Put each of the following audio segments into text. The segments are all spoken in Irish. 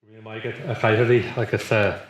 Go raibh maith agat, a Dhaithí, agus a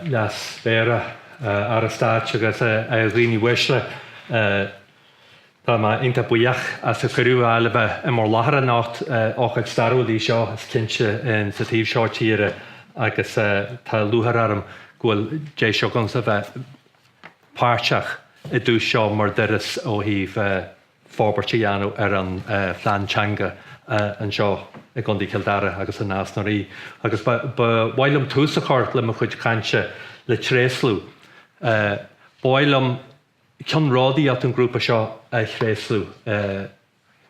Leas-Mhéara, a Aire Stáit agus a dhaoine uaisle. Tá mé iontach buíoch as an chuireadh a fháil a bheith i mbur láthair anocht. Ócáid stairiúil í seo, is cinnte, sa taobh seo tíre agus tá lúcháir orm go bhfuil deis agamsa a bheith páirteach i dtús seo mbur dturas ó thaobh forbairt a dhéanamh ar an phlean teanga anseo i gContae Chill Dara agus in Nás na Rí agus ba mhaith liom tús a chur le mo chuid cainte le tréaslú. Ba mhaith liom ceannródaíocht an ghrúpa seo a thréaslú,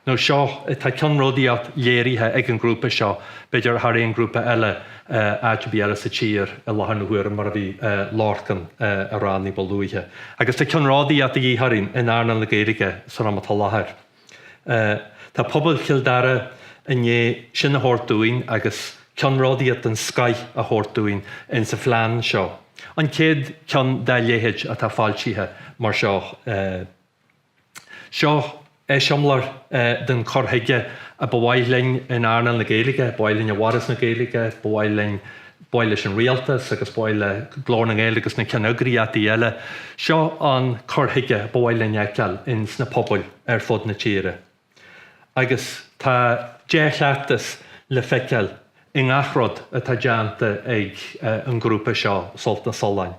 nó seo, tá ceannródaíocht léirithe ag an ghrúpa seo, b'fhéidir thar aon ghrúpa eile, áit ar bith eile sa tír i láthair na huaire, mar a bhí Lorcán a rá ní ba luaithe. Agus tá ceannródaíocht de dhíth orainn in earnáil na Gaeilge san am atá láthair. Tá pobal Chill Dara i ndiaidh sin a thabhairt dúinn agus ceannródaíocht den scoith a thabhairt dúinn ins an phlean seo, an chéad cheann dá leithéid atá foilsithe mar seo. Seo eiseamláir den chur chuige a ba mhaith linn in earnáil na Gaeilge, ba mhaith linn i bhForas na Gaeilge, ba mhaith ba mhaith leis an Rialtas agus ba mhaith le Glór na nGael agus na ceanneagraíochtaí eile, seo an cur chuige ba mhaith linn a fheiceáil in sna pobail ar fud na tíre. Agus tá dea-chleachtas le feiceáil i ngach rud atá déanta ag an ghrúpa seo, Sult na Sollán.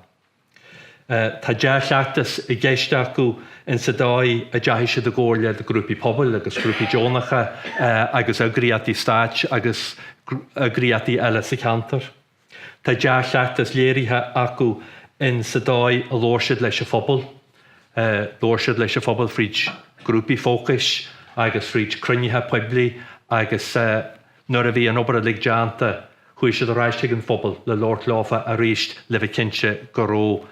Tá dea-chleachtas i gceist acu in sa dóigh a dteachaigh siad i gcomhairle le grúpaí pobail agus grúpaí deonacha agus eagraíochtaí stáit agus eagraíochtaí eile sa cheantar. Tá dea-chleachtas léirithe acu in sa dóigh a labhair siad leis an phobal. Labhair siad leis an phobal fríd grúpaí fócais agus fríd cruinnithe poiblí agus. Nuair a bhí an obair uilig déanta, chuaigh siad ar ais chuig an phobal le labhairt leofa arís le bheith cinnte go raibh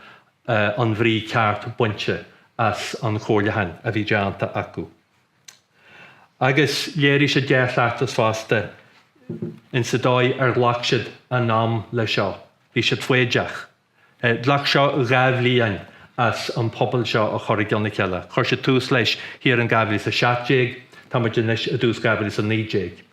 an bhrí ceart bainte as an chomhairliúchán a bhí déanta acu. Agus léirigh siad dea-chleachtas fosta insa dóigh ar ghlac siad a n-am leis seo. Bhí siad foighdeach. Ghlac seo dhá bhliain as an pobal seo a chur i gcionn a chéile. Chuir siad tús leis thiar in 2017, tá muid anois i dtús 2019.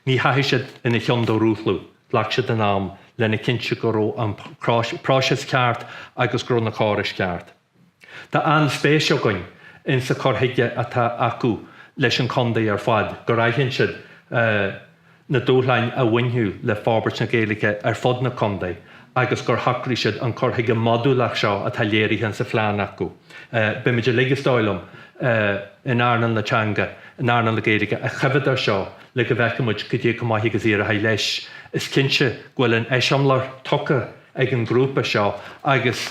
Ní theachaigh siad ina chionn de rúchladh, ghlac siad a n-am lena chinntiú go raibh an próiseas ceart agus go raibh na córais ceart. Tá an-spéis againn ins a cur chuige atá acu leis an Chondae ar fad, gur aithin siad na dúshláin a bhainfeadh le forbairt na Gaeilge ar fud na Condae agus gur shocraigh siad an cur chuige modúlach seo atá léirithe ins a phlean acu. Beimid uilig, is dóigh liom, in earnáil na teanga, in earnáil na Gaeilge, ag coimhéad air seo le go bhfeicfidh muid cad é chomh maith agus a éireochaidh leis. Is cinnte go bhfuil an eiseamláir tugtha. ag an ghrúpa seo agus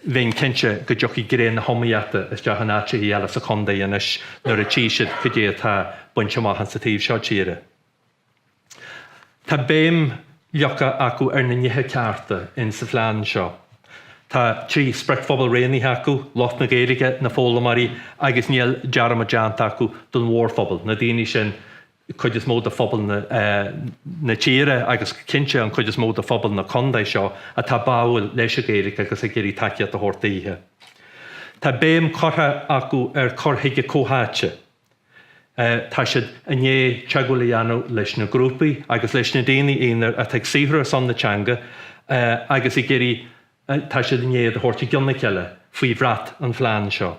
bheinn cinnte go dtiocfaidh greim na hiomaíochta isteach in áiteacha eile sa chontae anois nuair a tchí siad cad é atá bainte amach insa taobh seo tíre. Tá béim leagtha acu ar na nithe cearta insa phlean seo. Tá trí spriocphobal rianaithe acu, lucht na Gaeilge, na foghlaimeoirí agus níl dearmad déanta acu don mhórphobal, na daoine sin an chuid is mó de phobal na tíre agus go cinnte an chuid is mó de phobal na Condae seo atá báúil leis an Ghaeilge agus ag iarraidh tacaíocht a thabhairt daoithe. Tá béim curtha acu ar cur chuige comhtháite. Tá siad i ndiaidh teagmháil a dhéanamh leis na grúpaí agus leis na daoine aonair atá ag saothrú ar son na teanga agus ag iarraidh tá siad i ndiaidh iad a thabhairt i gcionn a chéile faoi bhrat an phlean seo.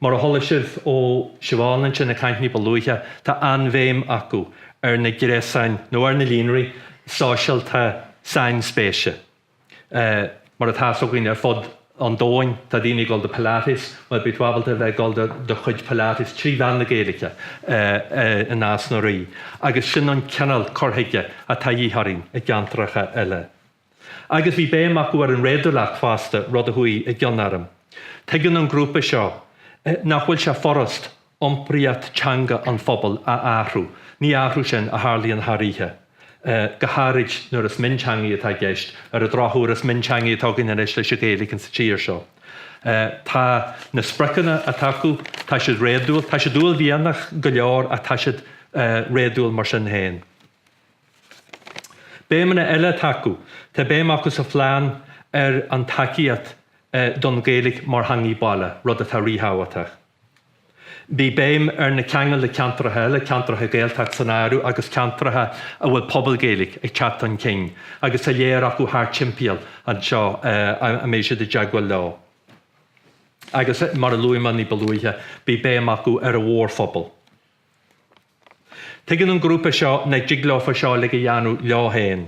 Mar a chuala sibh ó Siobhán ins na cainteanna ní ba luaithe, tá an-bhéim acu ar na gréasáin nó ar na líonraí sóisialta sainspéise. Mar atá fhios againn ar fud an domhain tá daoine ag dul do Pilates, bhuel beidh tú ábalta a bheith ag dul do do chuid Pilates trí mheán na Gaeilge i Nás na Rí agus sin an cineál cur chuige atá de dhíth orainn i gceantracha eile. Agus bhí béim acu ar an réadúlacht fosta, rud a chuaigh i gcion orm. Tuigeann an grúpa seo nach bhfuil sé furast iompraíocht teanga an phobail a athrú, ní athrú é sin a tharlaíonn thar oíche, go háirid nuair is mionteangaí atá i gceist, ar an drochuair is mionteangaí atá againn anois leis an Ghaeilge sa tír seo. Tá na spriocanna atá acu, tá siad réadúil, tá siad uaillmhianach go leor ach tá siad réadúil mar sin féin. Béimeanna eile atá acu, tá béim acu sa phlean ar an tacaíocht don Ghaeilge mar theanga baile, rud atá ríthábhachtach. Bhí béim ar na ceangail le ceantracha eile, ceantracha Gaeltachta san áireamh agus ceantracha a bhfuil pobal Gaeilge ag teacht chun cinn agus tá léar acu thar timpeall anseo a mbeidh siad i dteagmháil leo. Agus mar a luaigh mé ní ba luaithe, bhí béim acu ar an mhórphobal. Tuigeann an grúpa seo nach dtig leo an obair seo uilig a dhéanamh leo féin.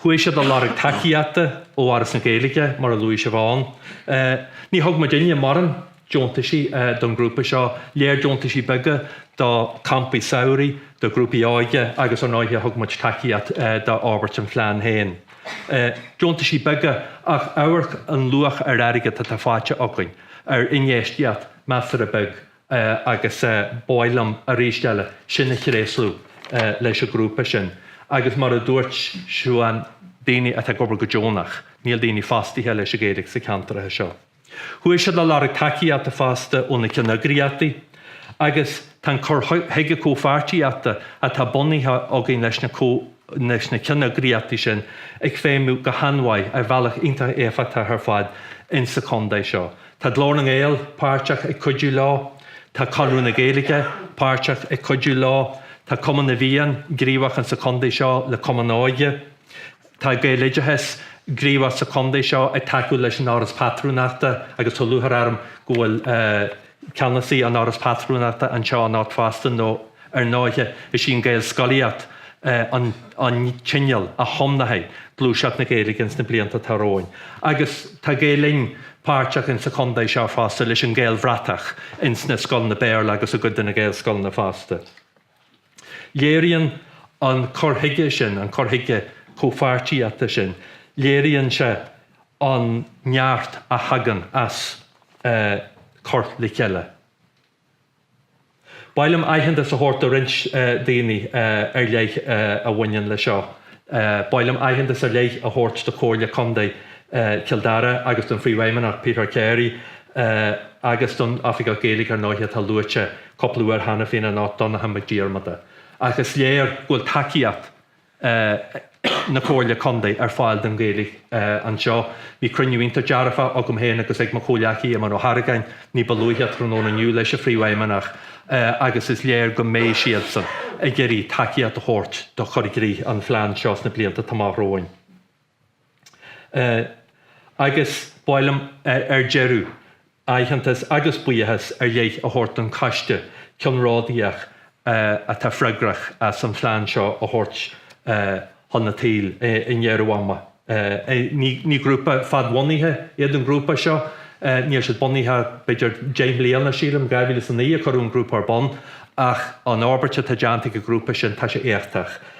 Chuaigh siad ag lorg tacaíochta ó Fhoras na Gaeilge, mar a luaigh Siobhán. Ní thug muid an-mhórán deontaisí don grúpa seo, lear deontaisí beaga do campaí samhraidh, do ghrúpaí óige agus ar ndóighe thug muid tacaíocht d'fhorbairt an phlean féin. Deontaisí beaga ach amharc an luach ar airgead atá faighte againn, ar infheistíocht measartha beag agus b'áil liom, arís eile, sin a thréaslú leis an ghrúpa sin, agus mar a dúirt Siobhán, daoine atá ag obair go deonach, níl daoine fostaithe leis an Ghaeilge sa cheantar seo. Chuaigh siad ag lorg tacaíochta fosta ó na ceanneagraíochtaí, agus tá an cur chuige comhpháirtíochta atá bunaithe againn leis na ceanneagraíochtaí sin ag feidhmiú go han-mhaith, ar bhealach iontach éifeachtach ar fad insa chontae seo. Tá Glór na nGael páirteach ag cuidiú leo, tá Conradh na Gaeilge páirteach ag cuidiú leo, tá Cumann na bhFiann gníomhach insa chontae seo le cumann óige, tá Gaeloideachas gníomhach sa chontae seo ag tacú leis an Fhoras Pátrúnachta agus tá lúchair orm go bhfuil ceannasaí an Fhorais Phátrúnachta anseo anocht fosta nó Ar ndóighe, is í an Ghaelscolaíocht an t-inneall a thiománfaidh gluaiseacht na Gaeilge ins na blianta atá romhainn, agus tá Gael Linn páirteach ins an chontae seo fosta leis an Ghaelbhratach ins na scoileanna Béarla agus i gcuid de na Gaelscoileanna fosta. Léiríonn an cur chuige sin, an cur chuige comhpháirtíochta sin, léiríonn sé an neart a thagann as cur le chéile. B'áil liom aitheantas a thabhairt do roinnt daoine ar leith a bhaineann leis seo. B'áil liom aitheantas ar leith a thabhairt do Chomhairle Contae Chill Dara agus don Phríomhfheidhmeannach, Peter Carey, agus don Oifigeach Gaeilge ar ndóighe, atá luaite cúpla uair cheana féin anocht, Donncha Mac Diarmada. Ach is léir go bhfuil tacaíocht. na Comhairle Contae ar fáil don Ghaeilge anseo. Bhí cruinniú iontach dearfach agam féin agus ag mo chomhleacaí Éamonn Ó hArgáin ní ba luaithe tráthnóna inniu leis an Phríomhfheidhmeannach agus is léir go mbeidh siadsan ag iarraidh tacaíocht a thabhairt do chur i gcrích an phlean seo sna blianta atá amach romhainn. agus b'áil liom ar deireadh aitheantas agus buíochas ar leith a thabhairt don Choiste Ceannródaíoch atá freagrach as an phlean seo a thabhairt chun a tsaoil i ndeireadh ama. Ní grúpa fadbhunaithe iad an grúpa seo, níl siad bunaithe ach b'fhéidir deich mbliana, sílim, 2009 a cuireadh an grúpa ar bun, ach an fhorbairt atá déanta ag an grúpa sin, tá sé éachtach.